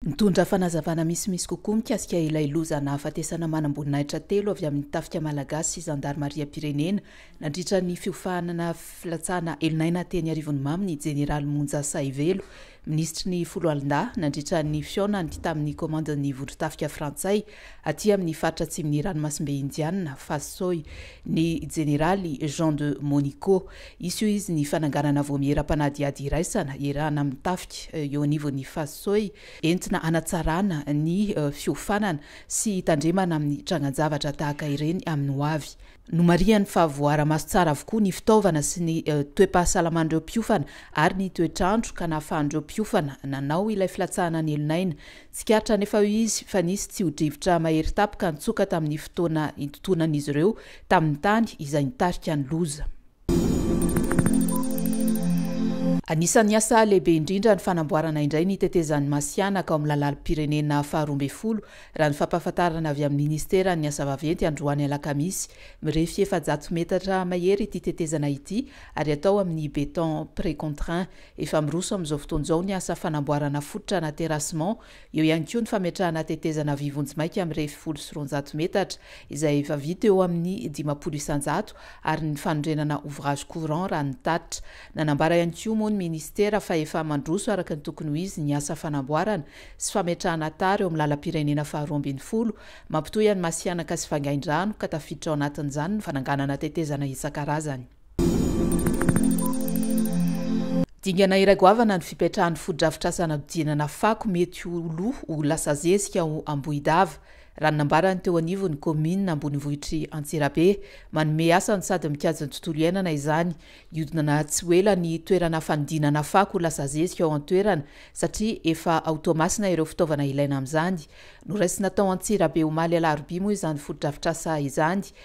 Nitondra fanazavana misimisy kokoa mikasika ilay loza nahafatesana manamboninahitra telo avy amin'ny Tafika Malagasy sy Zandarimariam-pirenena nandritra ny fiofanana filatsahana elon'aina teny Arivonimamo ny Jeneraly Monja Sahivelo, Minisitry ny Foloalindahy, nandritra ny fihaonany tamin'ny Komandin'ny Vondron-tafika Frantsay Aty amin'ny faritra atsimon'ny Ranomasimbe Indianina, Phase Soi, ny Jeneraly Jean de Monico. Hisy hoy izy ny fananganana vaomiera mpanadihady iraisana iarahana amin'ny tafika eo anivon'ny Phase Soi entina hanatsarana ny fiofanana sy hitandremana amin'ny trangan-javatra tahaka ireny amin'ny hoavy. Nomarihany fa voaara-maso tsara avokoa ny fitaovana sy ny toe-pahasalaman'ireo mpiofana ary ny toetr'andro ka nahafahan'ireo mpiofana nanao ilay filatsahana an'elon'aina Tsikaritra anefa eo izy fa nisy tsy ho drivotra mahery tapka nitsoka tamin'ny fotoana intontonan'izy ireo tamin'ny tany izay nitarika ny loza. Anisan'ny asa lehibe indrindra ny fanamboarana indray ny tetezan'i Masihanaka ao amin'ny lalalim-pirenena faharoa ambin'ny folo, raha ny fampahafantarana avy amin'ny minisiteran'ny asa vaventy androany alakamisy. Mirefy efajato metatra mahery ity tetezana ity ary atao amin'ny béton précontraint Efa miroso amin'izao fotoana izao ny asa fanamboarana fototra na terrassement, eo ihany koa ny fametrahana tetezana vy vonjimaika mirefy folo sy roanjato metatra, izay efa vita eo amin'ny dimampolo isanjato, ary ny fanorenana ouvrage courant raha ny tatitra. Nanambara ihany koa moa ny minisitera fa efa mandroso araka ny tokony ho izy ny asa fanamboarana sy fametrahana tara eo amin'ny lalam-pirenena faharoa ambin'ny folo mampitohy an'i Masihanaka sy Vangaindrano ka tafiditra ao anatin'izany ny fananganana tetezana isan-karazany. Dingana iray goavana ny fipetrahan'ny fotodrafitrasa hanadodinana fako mety ho lo ho lasa zezika ao Ambohidava, raha ny nambaran'ny teo anivon'ny kaominina ambonivohitr'i Antsirabe. Manome asa no sady mikajy ny tontolo iainana izany. Hihodinana tsy ho ela ny toerana fanodinana fako ho lasa zezika ao an-toerana, satria efa ao Toamasina ireo fitaovana ilaina amin'izany. Noraisina tao Antsirabe omaly alarobia moa izany fotodrafitrasa izany,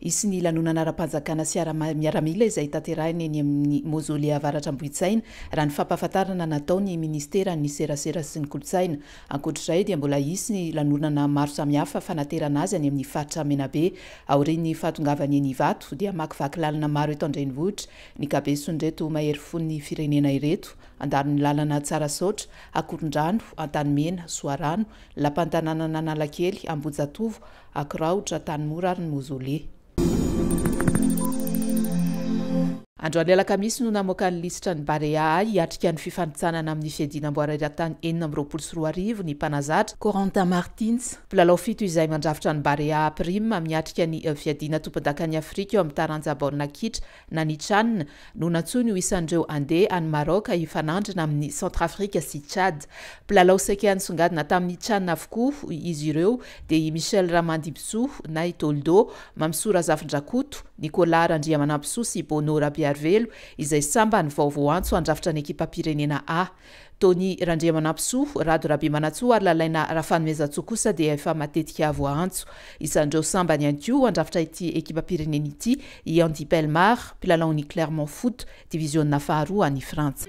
Hisy ny lanonana ara-panjakana sy ara-miaramila izay tanterahina eny amin'ny Mausolée Avaratra Ambohitsaina, raha ny fampahafantarana nataon'ny minisiteran'ny Serasera sy ny kolontsaina. Ankoatra izay dia mbola hisy ny lanonana maro samihafa fanaterana azy any amin'ny faritra Menabe. Aorian'ny fahatongavany eny Ivato dia hamakivaky lalana maro eto an-drenivohitra ny kabeson'ireto mahery fon'ny firenena ireto, Andanin'Lalana, Tsarasaotra, Akorondrano, Antanimena, Soarano, Lapantananan'Analakely, Ambohijatovo, Akiraotra, Antanimora ary ny Mozoley. Androany alakamisy no namoaka ny lisitra ny Barea hiatrika ny fifanintsanana amin'ny fiadiana amboara eran-tany enina amby roapolo sy roa arivo ny mpanazatra, Corentin Martins. Mpilalao fito izay mandrafitra ny Barea Prime miatrika ny fiadiana tompondakan'i Afrika eo amin'ny taranja baolina kitra Na ny Chan no nantsoiny ho isan'ireo handeha any Maroc hifanandrina amin'i Centrafrique sy Tchad. Mpilalao saika nisongadina tamin'ny Chan avokoa izy ireo dia i Michel Ramandimbisoa na i Toldo, Mamisoa Razafindrakoto, Nicolas Randriamanampisoa sy Bono Rabearivelo izay sambany vao voantso handrafitra ny ekipam-pirenena A. Tony Randriamanampisoa, Rado Rabemanantsoa ary Lalaina Rafanoezantsoa kosa dia efa matetika voaantso. Isan'ireo sambany ihany koa handrafitra ity ekipam-pirenena ity i Andy Bellemare, mpilalaon'ny Clermont Foot, diviziona faharoa any Frantsa.